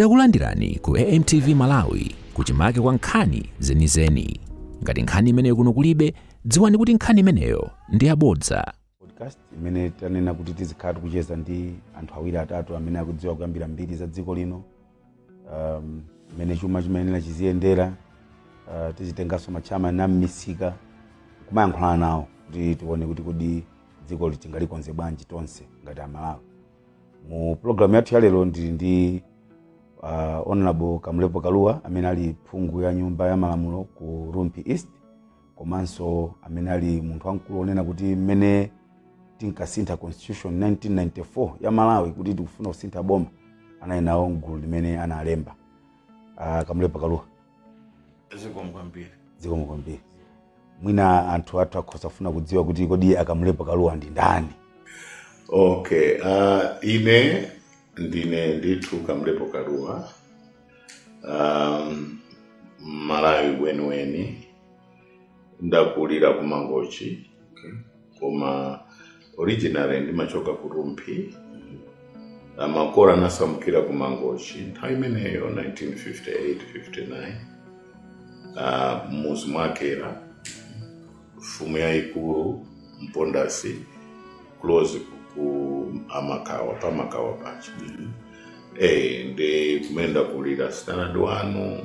Takulandirani ku AMTV Malawi kuchimake kwa nkhani zenizeni. Ngati nkhani imeneyo kuno kulibe, dziwani kuti nkhani imeneyo ndi yabodza. podcast imene tanena kuti tizikhala tikucheza ndi anthu awiri atatu amene akudziwa kuyambira mbiri za dziko lino um, mmene chuma chimayenera chiziyendera uh, tizitenganso matchama a mmisika kumayankhulana nawo kuti tione kuti kodi dzikoli tingalikonze bwanji tonse ngati amalawi mu pulogalamu yathu ya lero ndili ndi uh, honorable kamlepo kaluwa amene ali phungu wa nyumba ya malamulo ku rumphi east komanso amene ali munthu wamkulu onena kuti mmene tinkasintha constitution 1994 ya malawi kuti tikufuna kusintha boma anali nawo mgulu limene analemba uh, kamlepo kaluwa zikomo kwambiri zikomo kwambiri mwina anthu athu akhoza kufuna kudziwa kuti kodi akamlepo kaluwa ndi ndani okay uh, ine ndine ndithu kamlepo kaluwa um, mmalawi weniweni ndakulira ku mangochi okay. koma originally ndimachoka ku rumphi makolo anasamukira ku mangochi nthawi imeneyo 1958 59 Ah, mmuzi mwa Kela mfumu yayikulu mpondasi close ku Makawa pa Makawa paja eh ndi kumene ndakulira standard one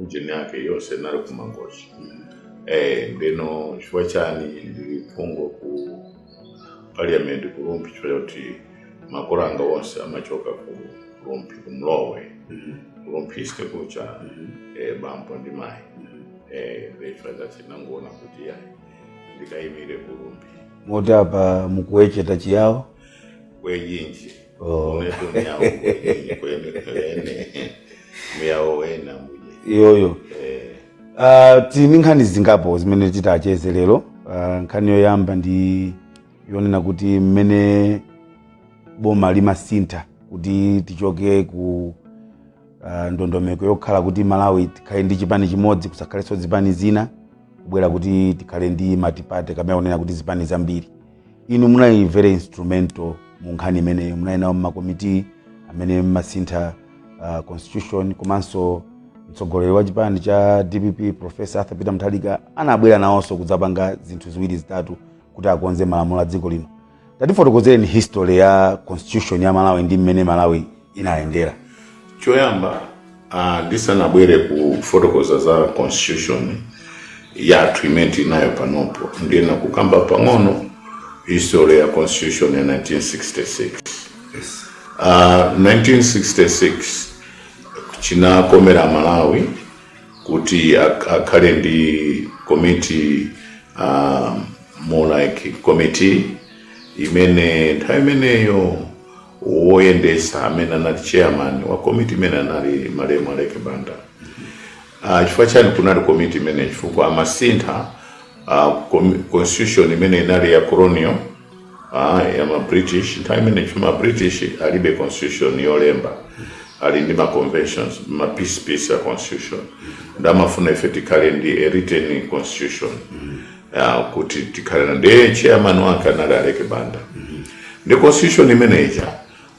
ujeni yake yonse inali kumangochi eh ndiyeno chifukwa chani ndili phungu ku parliament ku Rumphi chifukwa choti makolo anga onse amachoka ku Rumphi ku Mlowe ku Rumphi East kuja eh bambo ndi mai eh ndichifukwa chake ndinangoona kuti ya ndikaimire ku Rumphi moti apa mukuwecheta chiyawo kwejinji Oh. unetu myawo kweni kweni kweni myawo wena mbuje iyoyo Eh, Ah, tili ndi nkhani zingapo zimene titacheze lero Ah, nkhani yoyamba ndi yonena kuti mmene boma limasintha kuti tichoke ku ah, ndondomeko yokhala kuti malawi tikhale ndi chipani chimodzi kusakhalenso zipani zina kubwera kuti tikhale ndi matipate amene akunena kuti zipani zambiri inu munali very instrumental mu nkhani imeneyi munali nawo mmakomiti amene mmasintha uh, constitution komanso mtsogoleri wa chipani cha dpp profesa arthur peter mutharika anabwera nawonso kudzapanga zinthu ziwiri zitatu kuti akonze malamulo a dziko lino tatifotokozereni history ya constitution ya malawi ndi mmene malawi inayendera choyamba ah, ndisanabwere kufotokoza za constitution yathu imene tinayo panopo ndifuna kukamba pang'ono history ya constitution ya 1966 Ah, 1966 chinakomera malawi kuti ak- akhale ndi komiti um, more like committee imene nthawi imeneyo woyendetsa amene anali chairman wa komiti imene anali malemu aleke banda uh, chifukwa chani kunali komiti imene chifukwa amasintha uh, komi- constitution imene inali ya colonial uh, ya ma british nthawi imene chifukwa ma british alibe constitution yolemba ali ndi ma conventions ma piece piece ya constitution nde amafuna ife tikhale ndi a written constitution ya kuti tikhale nayo ndiye chairman wake anali aleke banda ndi constitution imene ija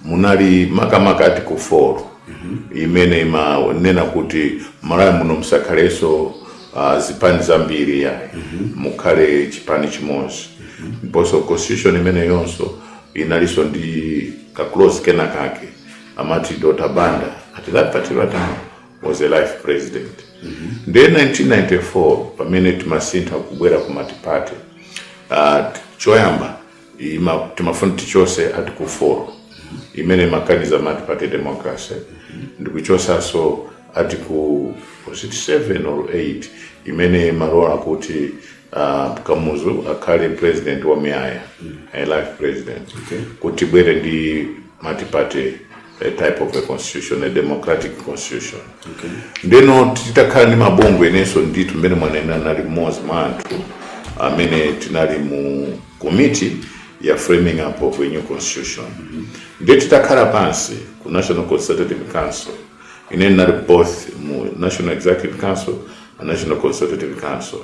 munali makamaka article 4 imene imanena kuti malawi muno musakhalenso uh, zipani zambiri ayi mukhale chipani chimodzi ndiponso constitution imeneyonso inalinso ndi ka clause kena kake amati dr banda at that particular time was a life president ndiye 1994 pamene timasintha kubwera ku multiparty uh, choyamba ima, timafuna tichose article 4 imene imakaniza multiparty democracy ndikuchosaso article was it 7 or 8 imene imalola kuti uh, kamuzu akhale president wamuyaya a life president Okay. kuti tibwere ndi multiparty a type of a constitution a democratic constitution okay. ndeno titakhala ndi mabungwe inenso ndithu mmene mwanena ndinali mmodzi mwa anthu amene tinali mu committee ya framing up of a new constitution mm -hmm. nde titakhala pansi ku national consultative council ine ndinali both mu national executive council and national consultative council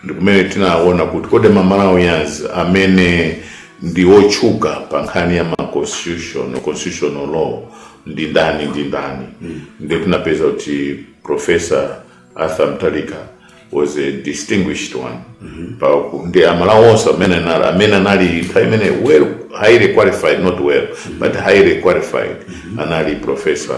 ndi kumene tinaona kuti kodi ma malawians amene ndi otchuka pa nkhani ya ma constitution constitutional law ndi ndani ndi ndani ndiye tinapeza kuti professor arthur mutharika was a distinguished one pa ku- ndi amalawi onse amene anali amene anali nthawi imene well highly qualified not well but highly qualified anali professor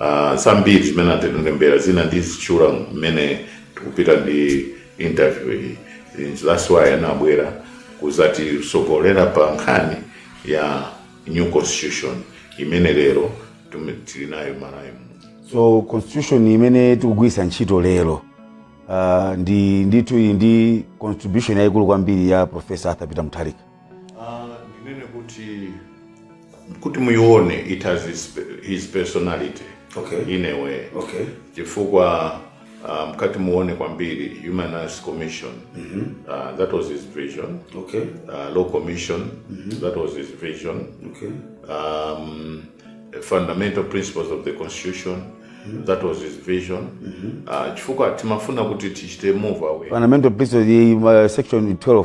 Uh, zambiri zimene atilembera zina ndizitchula mmene tikupita ndi interview iyi And that's why anabwera kuzatisogolera pa nkhani ya new constitution imene lero tume- tili nayo malawi muno so constitution imene tikugwiritsa ntchito lero uh, ndi ndithu iyi ndi contribution yayikulu kwambiri ya profesa arthur peter mutharika Uh, ndinene kuti kuti muyione it has his, his personality Okay. in a way Okay. chifukwa uh, mkati muone kwambiri human rights commission uh, that was his vision Okay. uh, law commission that was his vision Okay. um, fundamental principles of the constitution that was his vision uh, chifukwa timafuna kuti tichite move away fundamental principles iyi ma- section 12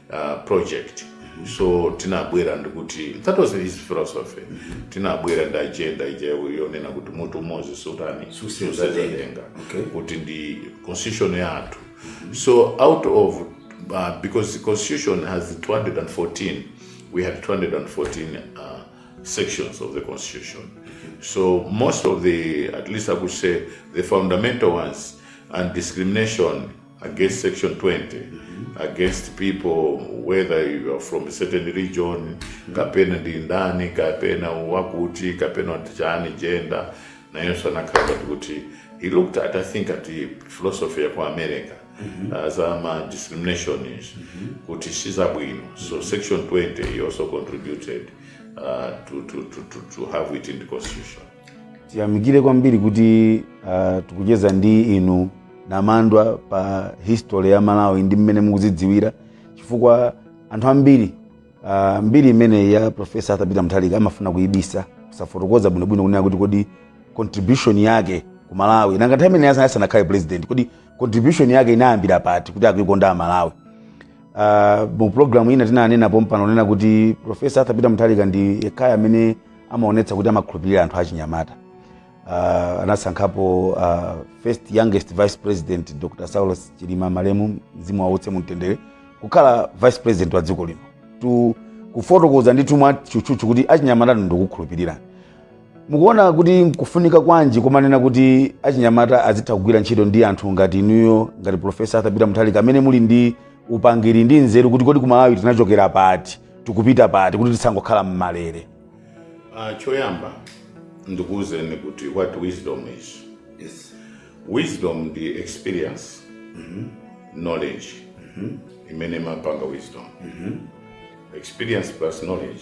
uh, project so tinabwera ndikuti that was his philosophy tinabwera ndi agenda ija yonena kuti mutu umodzi sutani Susenza susenza denga Okay. kuti ndi constitution yathu so out of uh, because the constitution has 214 we had 214 uh, sections of the constitution so most of the at least i could say the fundamental ones and discrimination against section 20 against people whether you are from a certain region kapena ndi ndani kapena wakuti kapena wa tichani gender nayonso anakhala ngati kuti he looked at i think at the philosophy ya ku america za ma discriminations kuti sizabwino so section 20 he also contributed uh, to, to, to, to, to have it in the constitution tiyamikire kwambiri kuti uh, tikucheza ndi inu namandwa pa history ya malawi ndi mmene mukuzidziwira chifukwa anthu ambiri uh, mbiri imene ya profesa arthur peter mutharika amafuna kuyibisa kusafotokoza bwinobwino kunena kuti kodi contribution yake ku malawi nanga nthawi imene asanakhale president kodi contribution yake inayambira pati kuti akuikonda malawi Uh, mu programu ina tinanena pompano onena kuti profesa arthur peter mutharika ndi yekhayo amene amaonetsa kuti amakhulupirira anthu achinyamata uh, anasankhapo uh, first youngest vice president dr saulos chilima malemu mzimu wawo uuse mumtendere kukhala vice president wa dziko lino kufotokoza ndithu mwa tchutchutchu kuti achinyamata ndikukhulupirira mukuona kuti nkufunika kwanji kumanena kuti achinyamata azitha kugwira ntchito ndi anthu ngati inuyo ngati profesa arthur peter mutharika amene muli ndi upangiri ndi nzeru kuti kodi kumalawi tinachokera pati tikupita pati kuti tisangokhala mmalere Ah, choyamba ndikuwuzeni kuti what wisdom is Yes. wisdom ndi experience knowledge imene imapanga wisdom experience plus knowledge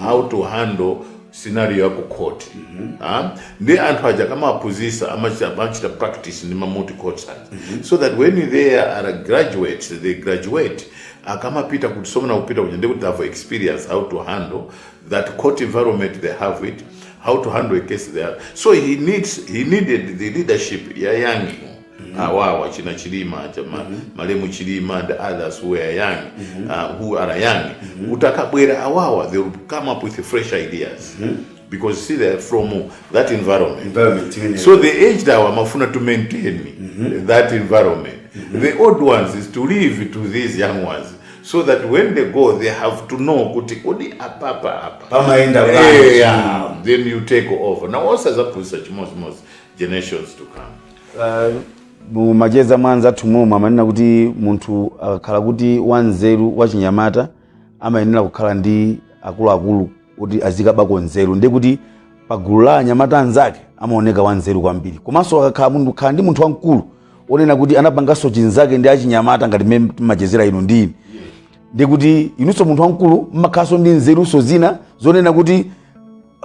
how to handle scenario ya ku court ah ndi anthu aja akamaphunzitsa amachita amachita practice m'ma moot courts so that when they are graduates they graduate akamapita kukasomona ku court kuja ndiye kuti they have experience how to handle that court environment they have it how to handle a case they have so he needs he needed the leadership ya young awawa china chilima aja ma, malemu chilima and others who are young uh, who are young utakabwera awawa they will come up with fresh ideas because see they are from that environment environment imene so the aged awa amafuna to maintain that environment the old ones is to leave to these young ones so that when they go they have to know kuti kodi apapa apa Pamaenda Eh, bwanji? yeah. then you take over now osazaphunzisa chimodzimodzi generations to come mu macheza mwa anzathu mommo amanena kuti munthu akakhala kuti wanzeru wachinyamata amayenera kukhala ndi akuluakulu kuti azikabako nzeru ndiye kuti pagulu la anyamata anzake amaoneka wanzeru kwambiri komanso akakhala munthu khala ndi munthu wamkulu onena kuti anapanganso chinzake ndi achinyamata ngati mmene timachezera inu ndi ine ndiye kuti inunso munthu wamkulu mmakhalanso ndi nzerunso zina zonena kuti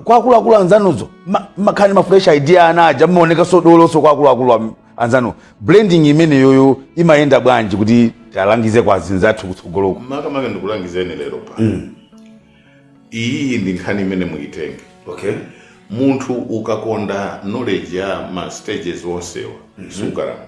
kwa akuluakulu anzanuzo ma- makhala ndi ma fresh idea ana aja mmaoneka sodoloso kwa akuluakulu am- anzanu blending imeneyoyo imayenda bwanji kuti talangize kwa anzathu kutsogoloko makamaka ndikulangizeni lero pa iyiyi ndi nkhani imene muitenge okay munthu ukakonda knowledge ya ma stages onsewa sukalamba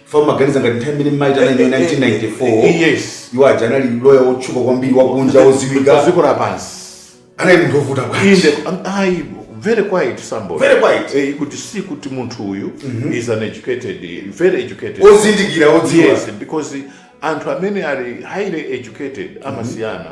fam maganiza ngati nthawi imene munaitana mu 1994 yes iwo aja anali loya wotchuka kwambiri wakunja wodziwika dziko lapansi anali munthu wovuta bwanji inde am- ayi very quiet somebody Very quiet. eh, kuti si kuti munthu uyu is an educated eh, very educated ozindikira odziwa yes because anthu amene ali highly educated amasiyana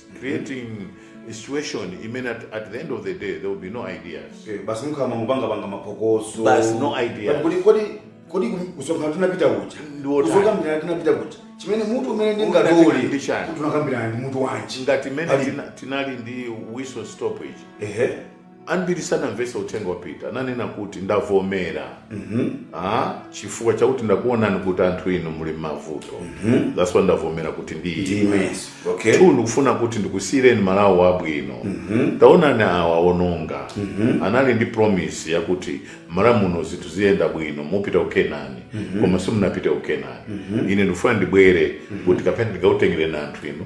creating a situation imene at, at the end of the day there will be no ideas Eh, basi mukhala mukungopangapanga mapokoso Basi, no idea. Kodi- kodi kodi kumsonkhano tinapita kuja Ndiwo tani. kumsonkhano tinapita kuja chimene mutu umene Unachitika ndi ndingatole chani? kuti tinakambirana ndi mutu wanji ngati imene Pali- tina- tinali ndi whistle stop ehe Ambiri sanamvetse uthenga wa Peter. Ananena kuti, Ndavomera. Ah, chifukwa chakuti ndakuonani kuti anthu inu muli m'mavuto. That's why ndavomera kuti ndiime. Yes. Okay. Two, ndikufuna kuti ndikusiyireni Malawi wabwino. Taonani awa aononga. Anali ndi promise yakuti Malawi muno zinthu ziyenda bwino, mupita ku Kenani. Koma simunapite ku Kenani. Ine ndikufuna ndibwere kuti kapena ndikautengereni anthu inu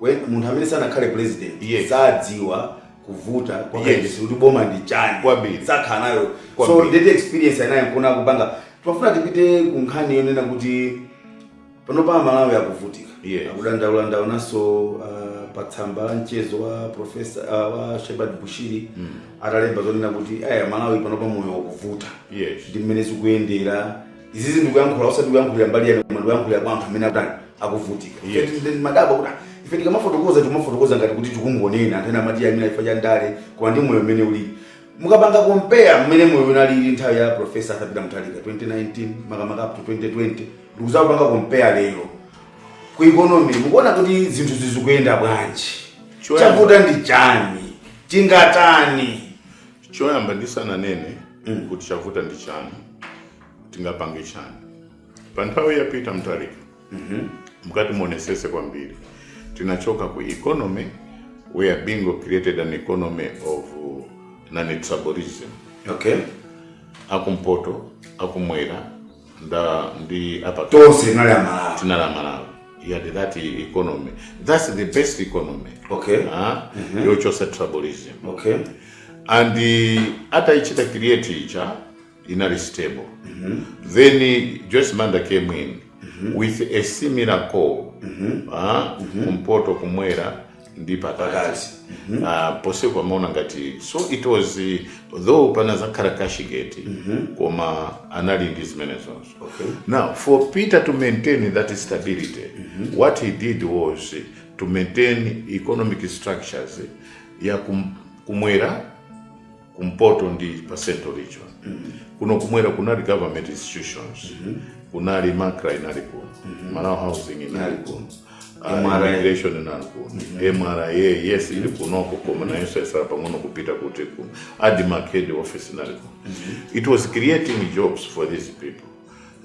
When munthu amene sanakhale president Yes. sadziwa kuvuta kwa Yes. kayendetsedwe kuti boma ndi chani Kwambiri. sakhala nayo so Kwambiri. nde the experience anayo nkuona kupanga timafuna tipite ku nkhani yonena kuti panopa amalawi akuvutika Yes. akudandaula ndaonanso uh, pa tsamba la mchezo wa profesa uh, wa shepherd bushiri atalemba zonena kuti aya malawi panopa moyo wakuvuta yes ndi mmene zikuyendera izizi ndikuyankhula osati kuyankhulira mbali yanu koma ndikuyankhulira kwa anthu amene akutani akuvutika Yes. Ine ndimadabwa kuti ife tikamafotokoza timafotokoza ngati kuti tikungonena anthu ena amati ameneyu ndi chifukwa cha ndale koma ndi moyo mmene ulili mukapanga compare mmene moyo unalili nthawi ya profesa arthur peter mutharika 2019 makamaka up to 2020 ndikuzapanga compare lero ku economy mukuona kuti zinthu sizikuyenda bwanji Choyamba. chavuta ndi chani tingatani choyamba ndisananene kuti chavuta ndi chani tingapange chani pa nthawi ya peter mutharika mukati muonesese kwambiri tinachoka ku economy where bingu created an economy of uh, non-tribalism okay akumpoto akumwera nda ndi apa tonse tinali amalawi tinali amalawi he had that economy that's the best economy Okay. Ah, yochosa tribalism okay and uh, ataichita create ija inali stable then uh, joyce banda came in with a similar call ah, kumpoto kumwera ndi pakati Pakati. Ah, ponse amaona ngati so it was eh, though panazakhala cashgate koma anali ndi zimenezozo Okay. now for peter to maintain that stability what he did was eh, to maintain economic structures eh, ya kum, kumwera kumpoto ndi pa central region kuno kumwera kunali government institutions kunali MACRA inali kuno malawi housing inali kuno ah, MRA. immigration inali kuno mra yes ili kunoko koma nayonso yasala pang'ono kupita kuti ku admarc head office inali kuno it was creating jobs for these people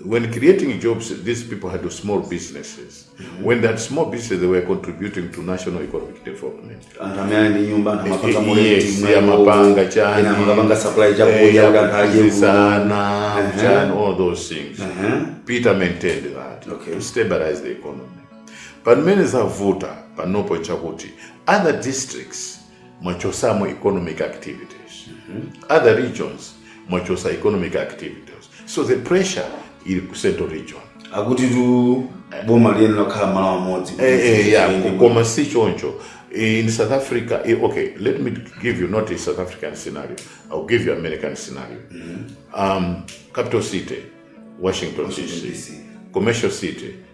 when creating jobs, these people had small businesses. When they had small businesses, they were contributing to national economic development. anthu amene ali ndi nyumba anthu amapanga Yes, ma rent mwa amapanga iwowo, chani, ena amapanga supply eh, chakudya kuti anthu adye akuzisana, Ehe. chani, all those things. Ehe. Peter maintained that Okay. to stabilize the economy. But mmene zavuta panopo chakuti other districts mwachosamo economic activities other regions mwachosa economic activities so the pressure ili ku central region akuti tu boma liyeni lakhala malo amodzi Eh, eh, yeah, Ndi- ku- koma si choncho in south africa eh, okay let me give you not a south african scenario i'll give you american scenario um, capital city washington, DC. DC. commercial city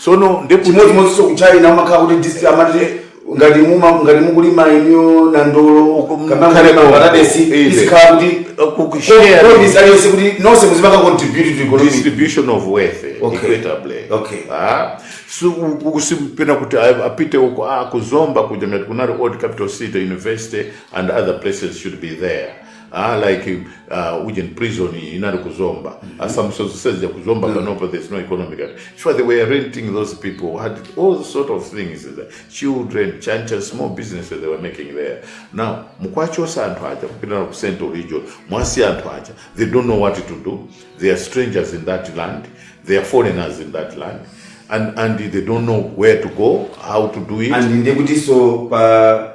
tsono nde kuti chimodzimodzinso ku China umakhala kuti district amati ngati muma ngati mukulima inuyo nandolo Ukum- kapena mukhale mukulima konko. paradesi Inde. izikhala kuti kukushare kodisi aliyense kuti nonse muzipanga contribute to economic distribution of wealth eh, Okay. equitably Okay. ah so u- u- simpena kuti a- apite uko ah kuzomba kuja kunali old capital city university and other places should be there Ah, like uh, uje prison inali ku Zomba mm -hmm. assumption zisezija ku Zomba mm -hmm. panopa there's no economic sure they were renting those people had all sort of things the children chancha small businesses they were making there now mukwachosa anthu aja kupita ku central region mwasi anthu aja they don't know what to do they are strangers in that land they are foreigners in that land and and they don't know where to go how to do it and ndekuti so pa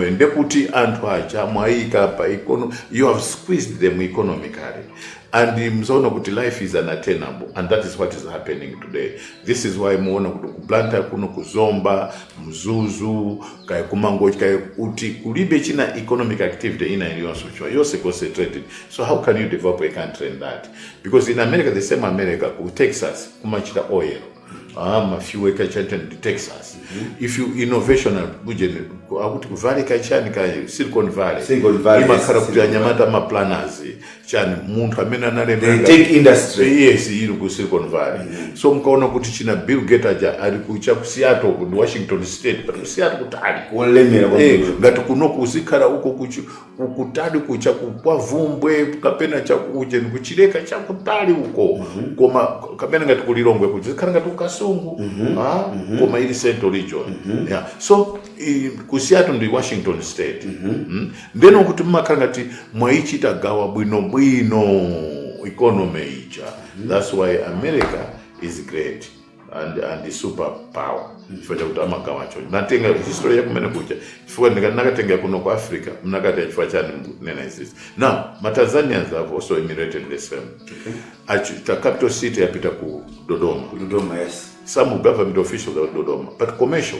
ndekuti anthu aja mwayika pa econo- you have squeezed them economically and mzaona kuti life is unattainable and that is what is happening today this is why muona kuti ku Blantyre kuno kuzomba mzuzu kaya kumangochi kaya kuti kulibe china economic activity ina iliyonse chwa yonse concentrated so how can you develop a country in that because in america the same america ku texas kumachita oil ah, ma fuel kachani in texas if you innovation and kujeni akuti ku valley kachani ka silicon valley Silicon Valley, imakhala yes, kuti Silicon anyamata ma planners chani munthu amene analembera The tech industry. yes ili ku silicon valley so mkaona kuti achina bill gates aja ali ku cha ku seattle ku washington state but ku seattle kutali wolemera Eh, kwambiri ngati kuno kuzikhala uko kuchi- kukutali kucha kwa vumbwe kapena chakujeni kuchileka chakutali uko koma kapena ngati kulilongwe kuja zikhala ngati ku Kasungu ah, koma ili central region yeah. so i- ku Seattle ndi washington state mm. ndiye kuti mmakhala ngati mwayichita gawa bwinobwino economy ija that's why america is great and, and super power chifukwa chakuti amagawa choncho ndatenga history yakumene kuja chifukwa ndinakatenga kuno ku africa mnakati chifukwa chani mkunena izizi now matanzanians have also emulated the same Achi- the capital city yapita ku dodoma Dodoma, yes. some government offices are dodoma but commercial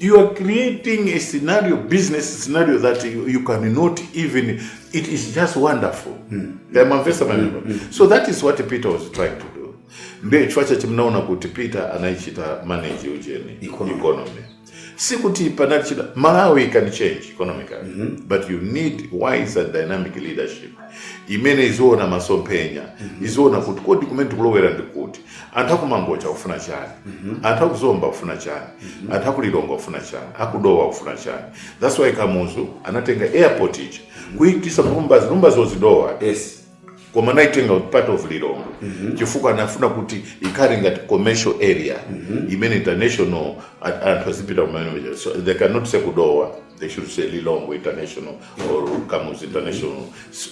You are creating a scenario, business scenario that you, you cannot even. It is just wonderful. Ndamamvesa maneno. So that is what Peter was trying to do. Ndiye chifukwa chachi mnaona kuti Peter anayichita manage ujeni Economy. economy. Si kuti panali china Malawi can change economically but you need wise and dynamic leadership imene iziwona masomphenya iziwona kuti kodi kumene tikulowera ndi kuti anthu akuMangochi akufuna chani anthu akuZomba akufuna chani anthu akuLilongwe akufuna chani akuDowa akufuna chani thats why kamuzu anatenga airport ija kuyipititsa kuLumbadzi Lumbadzi is Dowa yes koma anaitenga part of Lilongwe chifukwa anafuna kuti ikhale ngati commercial area imene international a- anthu azipita kumene so they cannot say kuDowa they should say Lilongwe international or kamuzu international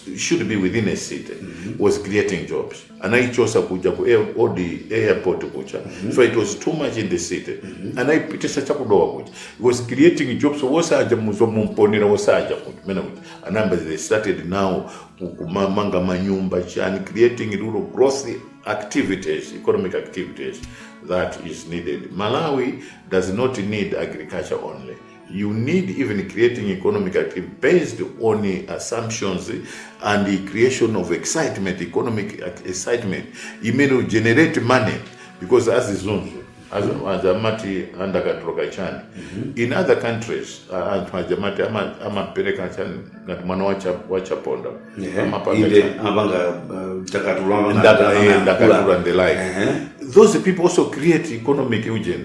It should be within a city was creating jobs anaichosa kuja ku air- odi airport kuja so it was too much in the city anaipitisa chakudowa kuja It was creating jobs wosaja muzomumponera wosaja kumene kuja anayamba they started now ku- kumamanga manyumba chani creating rural growth activities economic activities that is needed malawi does not need agriculture only you need even creating economic activity based on assumptions and the creation of excitement economic excitement imene will generate money because azizunzu azo- azamati andakatulo kapena chani in other countries uh, anthu ajamati ama- amapereka chani ngati mwana wa Cha- wa chaponda amapanga inde chani. amapanga uh, ndakatulo Ndaka- eh, ndakatulo and the like those people also create economic ujeni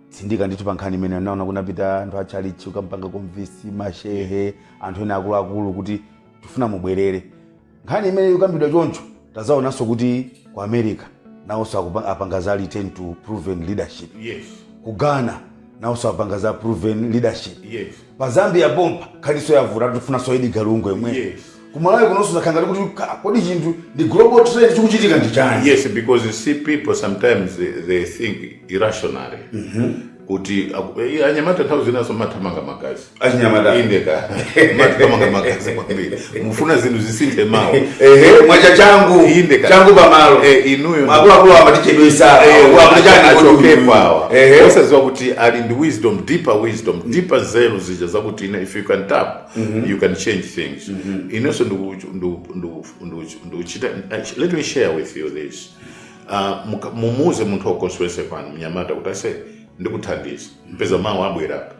tsindika ndithu pa nkhani imeneyo ndinaona kunapita anthu a tchalitchi kukampanga convince mashehe anthu ena akuluakulu kuti tikufuna mubwerere nkhani imene ikukambidwa choncho tadzaonanso kuti ku america nawonso akupa- apanga za return to proven leadership yes ku ghana nawonso apanga za proven leadership yes pa zambia pompa nkhaninso yavuta tikufunanso Edgar Lungu yemwe Yes. kumalawi kunonso zakhala ngati ka- kodi chinthu ndi global trend chikuchitika ndi chani yes because you see people sometimes they, they think irrationally kuti aku- eh, anyamata nthawi zinanso mumathamanga magazi achinyamata indedi mumathamanga magazi kwambiri mufuna zinthu zisinthe mawa ehe mwacha changu Inde ka- changu pamalo Eh, inuyo ndi- akuluakulu amatichedwetsa achokepo awa ehe osadziwa kuti ali ndi wisdom deeper wisdom deeper nzeru zija zakuti ine if you can tap you can change things inenso ndiku- ndiku- ndiku- ndiku- ndikuchita I- let me share with you this Ah, muka- mumuuze munthu wako aliyense pano mnyamata kuti ase ndikuthandiza umpeza mawa abwera apa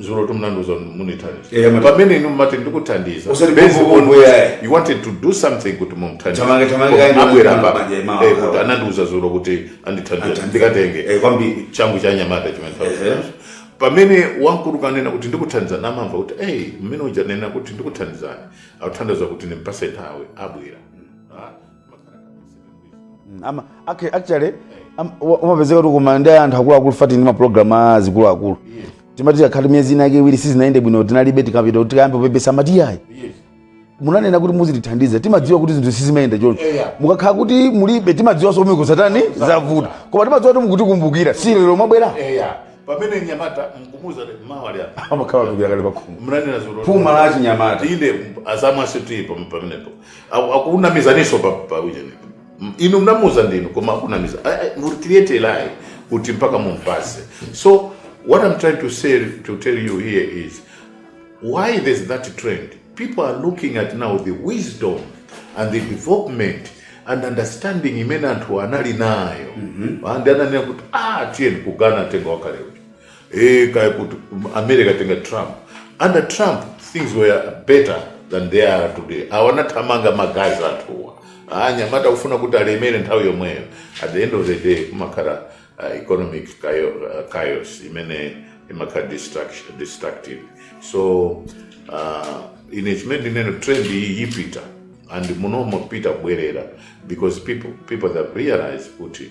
dzulo munandiuza mundithandiza Eh, amati- pamene inu mumati ndikuthandiza Usati Based kumbu- on kumbu, what eh. you wanted to do something kuti mumthandize Chamanga- chamanga Koma kaenda abwera kumbu- apa maje- mawa- eh, kuti mawa. anandiuza dzulo kuti andithandiza Athandiza. ndikatenge Eh, kwambiri. changu cha anyamata chimene Ehe. ndikunenacho pamene wamkulu ukanena kuti ndikuthandiza amamva kuti ei mmene uja wanena kuti ndikuthandizani akuthandiza kuti ndimpatse nthawi abwera Mm, ama ac- actually am- wa- umapezeka kuti kumanda anthu akuluakulu fati ndi mapulogalamu a zikuluakulu timati akhati miyezi inake iwiri sizinayende bwino tinalibe tikapita kuti tikayambe kupepesa mati yayi munanena kuti muzitithandiza timadziwa kuti zinthu sizimayenda choncho Yeah. mukakhala kuti mulibe timadziwanso kuti zavuta koma timadziwa kuti mukutikumbukira si lero mwabwera eya pamene nyamata mkumuza mmawa apa amakhala atumira kale pakhomo mnanena dzulo Phuma la achinyamata. inde azamwa situ ipo pamenepo Aku- akunamizaninso pa, pa ujeni M- inu mnamuza ndinu koma akunamiza I- I- would create a lie kuti mpaka mumpase so what i'm trying to tell you here is why there's that trend people are looking at now the wisdom and the development and understanding imene anthu anali nayo and ananena kuti ah tiyeni tikangotenga wakale uja Eh, kaya kuti america atenga trump under trump things were better than they are today awanathamanga magazi anthuwa anyamata kufuna kuti alemere nthawi yomweyo at the end of the day kumakhala uh, economic chaos, uh, chaos imene imakhala distraction- destructive so uh, ine chimene ndikunena trend iyi ipita and munomo APM abwerera because people, people have realized kuti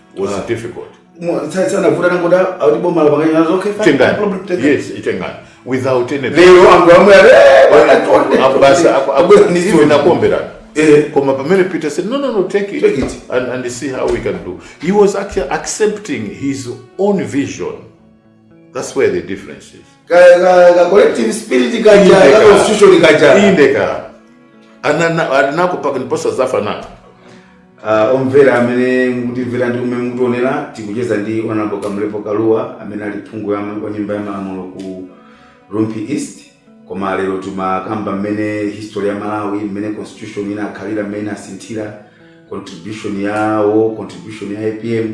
was Ah. difficult Mo- sa- sanavuta nangoti akuti boma lapanganya nazo okay fine, no problem, itengani take it. yes itengani without any lero anthu amwe ati "Eh, bwana, tonde, Apo basi, tonde." apo- apo- Abwera ndi even zinthu. akomberana Eh. koma pamene peter said no no no take it, Take it. And, and see how we can do he was actually accepting his own vision That's where the difference is. Ka, ka, ka collective spirit kaja, ka Indeka. constitution kaja. Indeka. Anana anako paka ndiposa zafana. Uh, omvera amene mukutimvera ndi kumene mukutionera tikucheza ndi honourable kamlepo kalua amene ali phungu ya- wa nyumba ya malamulo ku rumphi east koma lero timakamba mmene history ya malawi mmene constitution inakhalira mmene inasinthira contribution yawo contribution ya apm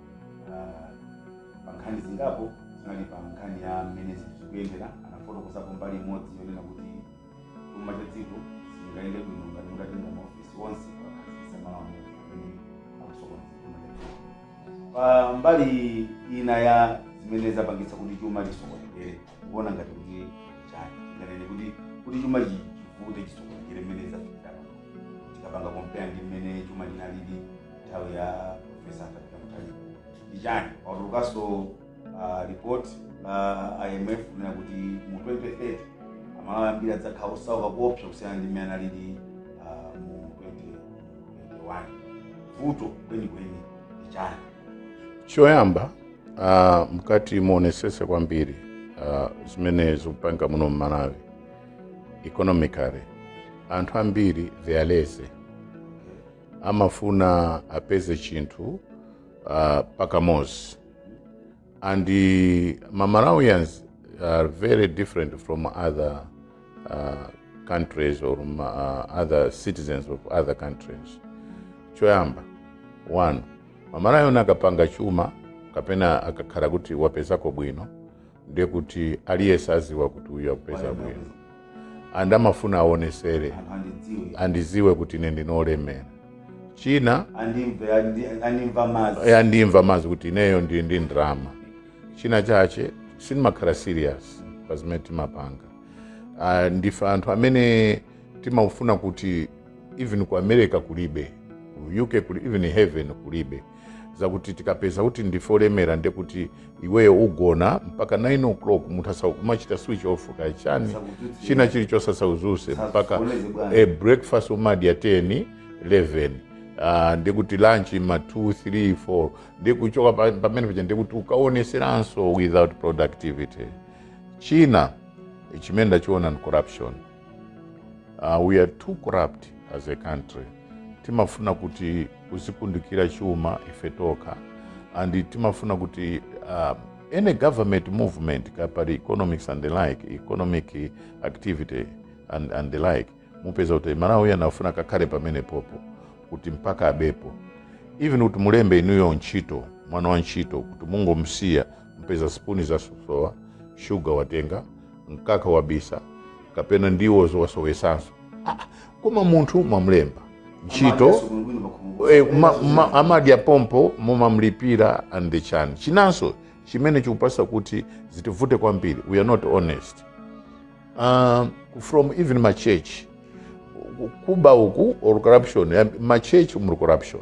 Pa nkhani zingapo zinali pa nkhani ya mmene zikuyendera, anafotokozapo mbali imodzi yonena kuti chuma cha dziko sichingayende bwino ngati mutatenga maofesi onse kuwakhazikitsa malo amodzi amene akusokoneza chuma cha dziko. Pa mbali ina ya zimene zapangitsa kuti chuma chisokonekere, mukuona ngati kuti ndi chani? Tinganene kuti kuti chuma chi- chivute chisokonekere mmene zafikira pano tikapanga compare ndi mmene chuma chinalili nthawi ya profesa Arthur Peter Mutharika ndi chani patulukanso uh, report la imf kunena kuti mu 2030 amalawi ambiri adzakhala osauka kuopsa kusiyana ndi mmene analili uh, mu 2021 vuto kwenikweni ndi chani choyamba uh, mkati muonesese kwambiri uh, zimene zikupangika muno mmalawi economically anthu ambiri they are lazy amafuna apeze chinthu uh, pakamozi and uh, Malawians are very different from other uh, countries or uh, other citizens of other countries choyamba one m'Malawian akapanga chuma kapena akakhala kuti wapezako bwino ndiye kuti aliyense aziwa kuti uyu akupeza bwino and amafuna aonesere andiziwe kuti ine ndinolemera china andimva mazi kuti ineyo ndi ndi ndrama china chache sitimakhala serious pa zimene timapanga Ah, ndife anthu amene timafuna kuti even ku america kulibe ku uk kulibe, even heaven kulibe zakuti tikapeza kuti ndife olemera nde kuti iweyo ugona mpaka 9 o'clock munthu kumachita switch off kaya chani china chilichonse asauzuse mpaka e breakfast umadya 10 11 Uh, nde kuti lunch ma 2 3 4 ndikuchoka pa- pamene paja nde kuti ukaoneseranso without productivity china chimene ndachiona ni corruption Uh, we are too corrupt as a country timafuna kuti kuzikundikira chuma ife tokha and timafuna kuti uh, any government movement kaya pali economics and the like economic activity and, and the like mupeza kuti mMalawi amafuna akakhale pamenepopo kuti mpaka abepo even kuti mulembe inuyo ntchito mwana wa ntchito kuti mungomsiya mpeza sipuni zasowa shuga watenga mkaka wabisa kapena ndiwo zo wasowesanso Ah, koma munthu mwamlemba ntchito Eh, ma- ma- amadya pompo mumamlipira and the chan chinanso chimene chikupangisa kuti zitivute kwambiri we are not honest um, from even ma church kuba uku or corruption eh, ma church muli corruption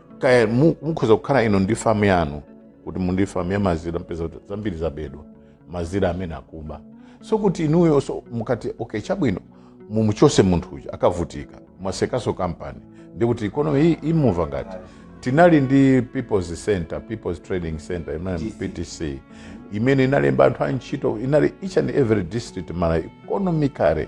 kaya mu- mukhoza kukhala inu ndi famu yanu kuti muli ndi famu ya mazira mpeza kuti zambiri zabedwa mazira amene akuba so kuti inuyo so mukati okay chabwino mumuchose munthu uja akavutika mwasekaso kampani nde kuti economy imuva ngati tinali ndi people's center people's trading center ptc imene inalemba anthu a ntchito inali each and every district mara economically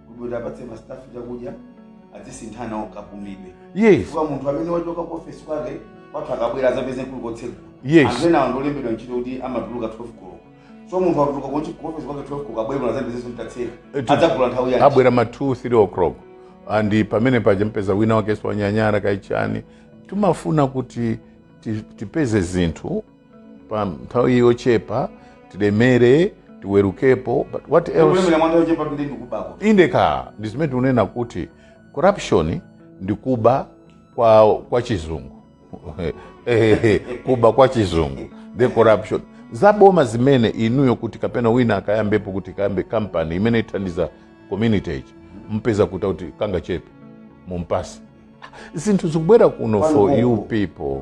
kuti apatse mastafu chakudya adzisinthana kapumidwe yes chifukwa munthu amene wachoka ku ofesi kwake kwathu akabwera azapeze kuli kotsegula Yes. anthu enawo ndolembedwa ntchito kuti amatuluka 12 koloko so munthu akatuluka kuchi- ku ofesi kwake 12 koloko abwere kuno azapeze kuti tatseka Eti- adzagula nthawi yake abwera ma 2 3 o'clock and pamene paja mpeza wina wakenso wanyanyara kaya chani timafuna kuti ti- tipeze zinthu pa nthawi yochepa tilemere tiweruke but what else kulemera mwa nthawi yochepa ndi ndikubako indeed ndi zimene tikunena kuti corruption ndi kuba kwa, kwa chizungu Ehehe, kuba kwa chizungu the corruption zaboma zimene inuyo kuti kapena wina akayambepo kuti akayambe kampani imene ithandiza community ichi mupeza kuti kuti kangachepe mumpatse zinthu zikubwera kuno for you people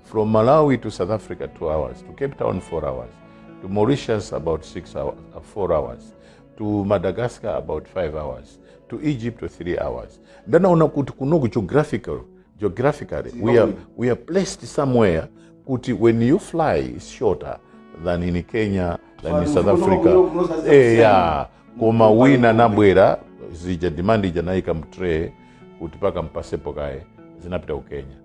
From Malawi to South Africa, two hours. To Cape Town, four hours. To Mauritius, about six hours, uh, four hours. To Madagascar, about five hours. To Egypt, three hours. Then on kuti kuno ku geographical, geographically, we are, we are placed somewhere kuti when you fly, it's shorter than in Kenya, than in South Africa. Eh, yeah. Koma wina nabwera zija demand ija naika mtray kuti paka mpasepo kaye zinapita ku Kenya.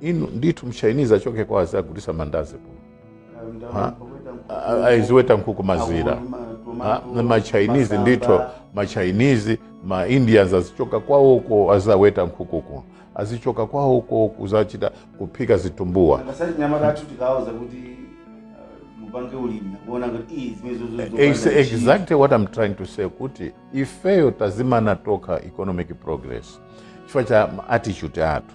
inu ndithu mchinese achoke kwawo azagulisa mandazi kuno Ha? A- aziweta nkhuku mazira Ha? Na machinese ndithu machinese ma indians azichoka kwawoko azaweta nkhuku kuno azichoka kwawoko kuzachita kuphika zitumbuwa koma achinyamata athu tikawauza kuti uh, mupange ulimi akuona kuti "Ih, zimene zo- zo- zo- It's zo- exactly what I'm trying to say kuti ifeyo tazimana tokha economic progress chifukwa cha attitude athu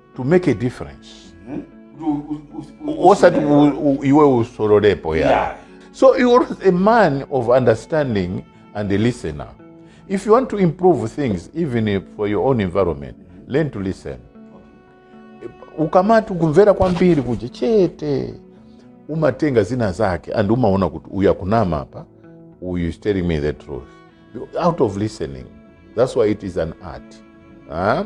to make a difference hmm? osati iwe usololepo ya yeah. so you are a man of understanding and a listener if you want to improve things even for your own environment learn to listen ukamati kumvera kwambiri kuja chete umatenga zina zake and umaona kuti uyu akunama apa uyu is telling me the truth out of listening that's why it is an art huh?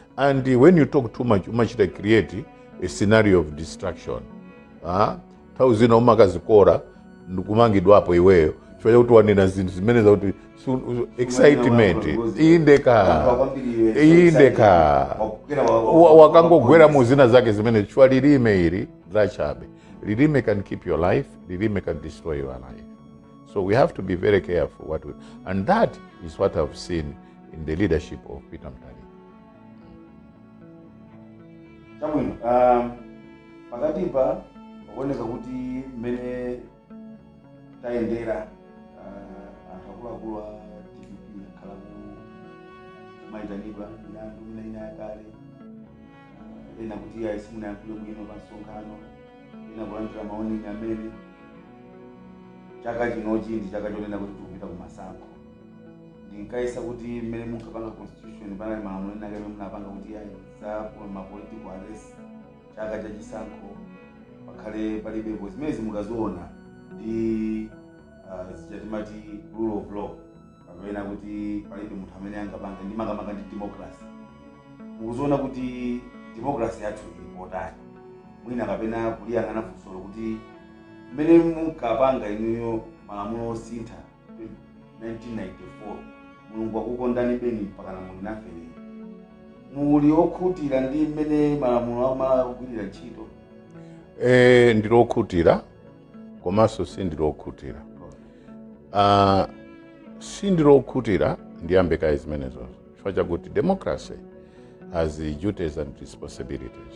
And when you talk too much, umachita create a scenario of destruction. Ah, nthawi zina umakazikola ndikumangidwapo iweyo chifukwa chakuti wanena zinthu zimene zakuti su- su- excitement indeed indeed Wa- wakangogwera mu zina zake zimene chifukwa lilime ili lachabe lilime can keep your life lilime can destroy your life so we have to be very careful what we, and that is what i've seen in the leadership of Peter Mutharika. chabwino um, pakatipa pakuoneka kuti mmene tayendera uh, anthu akuluakulu a dpp akhala akumayitanidwa milandu ina ina yakale uh, ena kuti ayi simunayankhule bwino pa msonkhano ena kulandira ma warning amene chaka chinochi ndi chaka chonena kuti tikupita ku masankho ndinkayesa kuti mmene munkapanga constitution panali malamulo ena amene munapanga kuti ayi za ma political arrest chaka cha chisankho pakhale palibepo zimenezi mukaziona ndi ah, zija timati rule of law kapena kuti palibe munthu amene angapanga ndi makamaka ndi democracy mukuziona kuti democracy yathu ili potani mwina kapena kuliyang'ana funsolo kuti mmene munkapanga inuyo malamulo osintha 1994 mulungu wakukondani beni mpakana muli nafe lero muli okhutira ndi mmene malamulo a ku Malawi akugwirira ntchito Eh, ndili okhutira komanso sindili okhutira Ah, sindili okhutira ndiyambe kaye zimenezozo chifukwa chakuti democracy has duties and responsibilities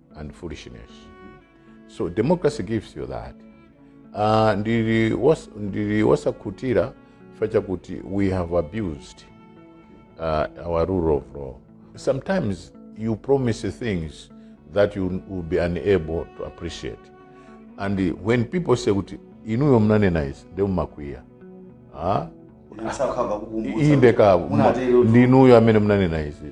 and foolishness so democracy gives you that uh, ndili was- ndili wosakhutira chifukwa chakuti we have abused uh, our rule of law sometimes you promise things that you will be unable to appreciate and when people say kuti inuyo mnanena izi nde mumakwiya ah? Ine sakhala kukumbutsa. inde kaya Munatero tu. ndinuyo amene mnanena izi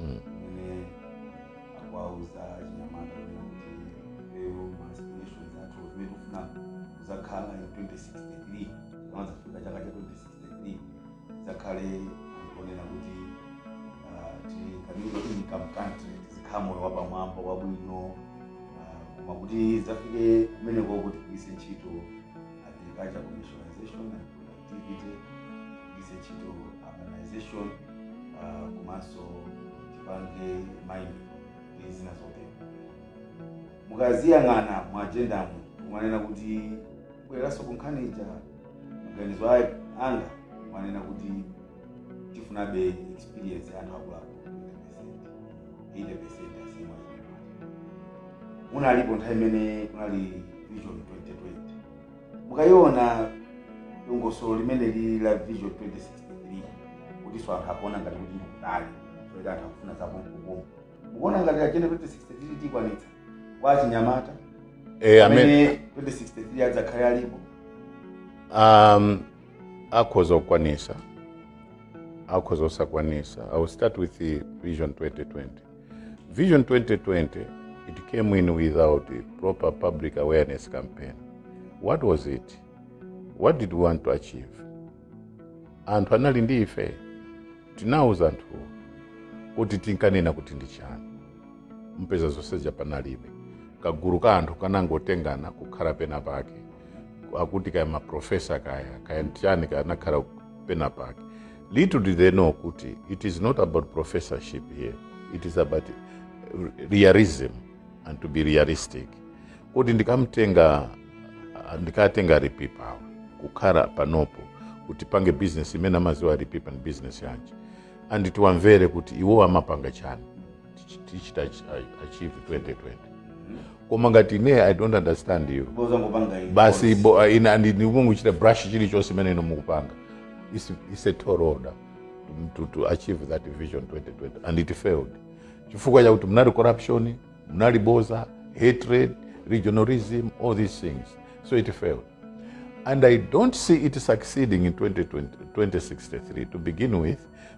Mm. imene akuwauza achinyamata kunena kuti lero ma aspirations athu zimene tikufuna kuzakhala in 2063 tikamadzafika chaka cha 2063 tidzakhale anthu onena kuti ah, ti- ka middle income country tizikhala moyo wapamwamba wabwino ah, koma kuti tizafike kumeneko kuti tigwiritse ntchito agriculture commercialization and tipite tigwiritse ntchito urbanization uh, komanso tipange mining ndi zina zotero mukaziyang'ana mu ajendamu mumanena kuti kubwereranso kunkhani ija maganizo a- anga mumanena kuti tifunabe experience ya anthu akuluakulu 80 percent asiyimwa munalipo nthawi imene kunali vision 2020 Mukaiona dongosolo limeneli la Vision 2063 kutinso anthu akuona ngati kuti ndikutali kuti anthu akufuna zapompopompo mukuona ngati ajenda 2063 tikwanitsa kwa achinyamata Eh, amene amene 2063 adzakhale alipo um, akhoza kukwanisa akhoza osakwanisa i will start with the vision 2020 Vision 2020, it came in without a proper public awareness campaign. What was it? What did we want to achieve? Anthu anali ndi ife, tinauza anthuwo kuti tinkanena kuti ndi chani. Mpeza zonse zija panalibe. Kagulu ka anthu kanangotengana kukhala pena pake. Akuti kaya maprofesa kaya, kaya nchiyani kanakhala pena pake. Little did they know kuti it is not about professorship here. It is about realism and to be realistic. Kodi ndikamtenga ndikatenga a Lipipa kukhala panopo kuti tipange business imene amaziwa a Lipipa ndi business yanji and tiwamvere kuti iwo amapanga chani Tichi- tichita ach- a- achieve 2020 koma ngati ine i don't understand you boza ngopanga iyi. basi bo- ah, ina ndi- ndikungochita brush chilichonse chimene inu mukupanga It's- it's a tall order to, to, to achieve that vision 2020 and it failed chifukwa chakuti munali corruption munali boza hatred regionalism all these things so it failed and i don't see it succeeding in 2020, 2063 to begin with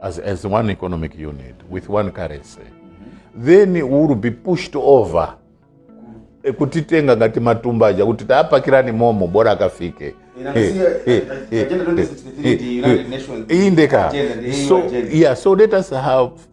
as, as one economic unit with one currency then we will be pushed over Eh, kutitenga ngati matumba aja kuti tapakirani momo bora akafike indeka so yeah so let us have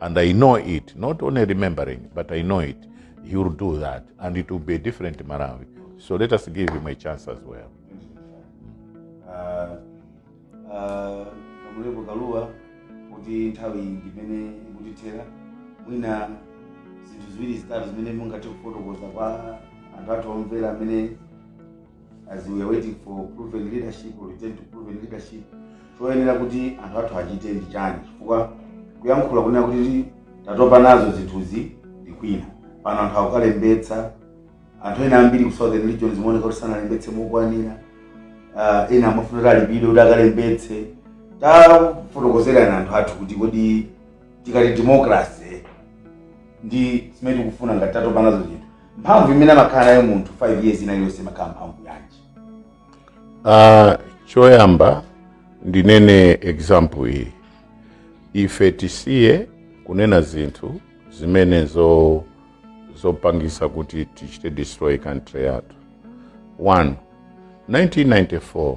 And I know it, not only remembering, but I know it. He will do that, and it will be a different Malawi. So let us give him a chance as well. Uh, uh, Kamlepo Kalua kuti nthawi ndimene ikutithera mwina zinthu ziwiri zitatu zimene mungathe kufotokoza kwa anthu athu omvera amene as we are waiting for proven leadership or return to proven leadership choyenera kuti anthu athu achite ndi chani chifukwa kuyankhula kunena kuti tatopa nazo zinthuzi ndi kwina pano anthu akukalembetsa anthu ena ambiri ku southern region zimaoneka kuti sanalembetse mokwanira uh, ena amafuna kuti alipidwe kuti akalembetse tafotokozerani anthu athu kuti kodi tikati democracy ndi zimene tikufuna ngati tatopa nazo zinthu mphamvu imene amakhala nayo munthu 5 years ina iliyonse imakhala mphamvu yanji Ah, choyamba ndinene example iyi ife tisiye kunena zinthu zimene zopangisa kuti tichite destroy country yathu 1 1994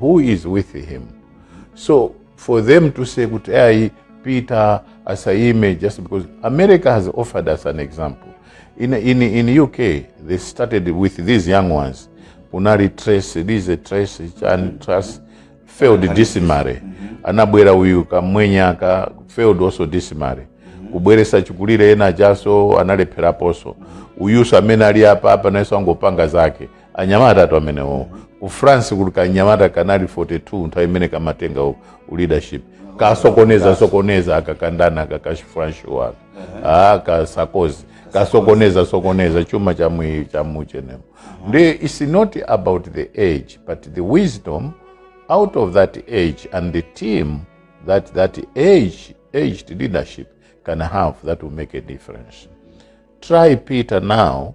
who is with him so for them to say kuti ayi peter asayime just because america has offered us an example in, in, in uk they started with these young ones kunali Truss Liz Truss chan Truss failed dismally anabwera uyu kamwenye aka failed also dismally kubweresa chikulire ena chakaso analepheraponso uyuso amene ali apa apa nayenso angopanga zake anyamatatu amenewo ku france kuli kanyamata kanali 42 nthawi imene kamatenga u- u leadership kasokoneza sokoneza akakangana ndi ka French wake ah ka Sarkozy kasokoneza sokoneza chuma cha mwi cha muchenemo ndiye it's not about the age but the wisdom out of that age and the team that that age aged leadership can have that will make a difference try Peter now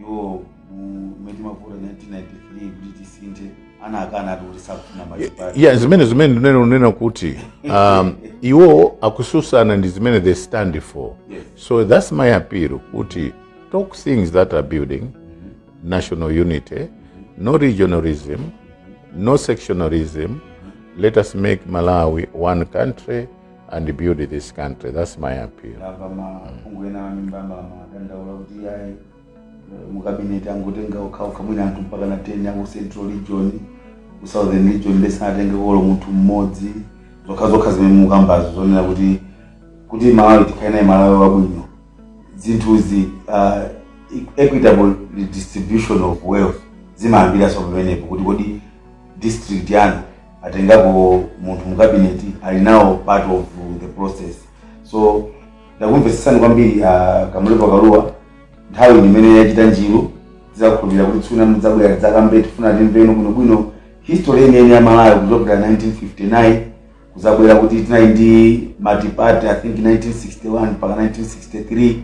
iwo mu mmene timavota 1993 kuti tisinthe anakana ati kuti sakufuna machipani ya zimene zimene ndimanena kunena kuti um, iwo akususana ndi zimene they stand for Yes. so that's my appeal kuti talk things that are building national unity no regionalism no sectionalism let us make malawi one country and build this country. That's my appeal. mukabineti angotenga okhaokha mwina anthu mpaka na 10 aku central region ku southern region nde sanatengeko olo munthu mmodzi zokhazokha zimene mukambazo zonena kuti kuti malawi tikhale naye malawi wabwino zinthuzi uh, equitable distribution of wealth zimayambiranso pamenepo kuti kodi district yanu atengapo munthu mu cabinet ali nawo part of the process so ndakumvetsesani kwambiri a kamlepo kalua nthawi ndimene yachita njiru tizakhulupirira kuti tsiku lina mudzabwera tidzakambe tifuna timveno bwinobwino history yeniyeni ya malawi kuchokera 1959 kuzabwera kuti tinali ndi multiparty i think 1961 mpaka 1963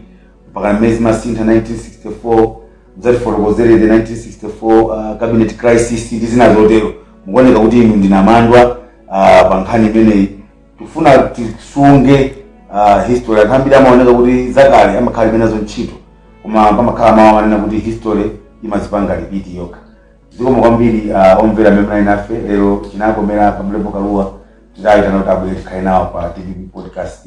mpaka mmene zimasintha 1964 muzatifotokozere the 1964 uh, cabinet crisis ndi zina zotero mukuoneka kuti inu ndi namandwa uh, pa nkhani imeneyi tikufuna tisunge uh, history anthu ambiri amaoneka kuti zakale amakhala alibe nazo ntchito koma pamakhala mawu amanena kuti history imazipanga repeat yokha zikomo kwambiri uh, omvera amene munali nafe lero chinakomera kamlepo kalua titayitana kuti abwere tikhale nawo pa tpp podcast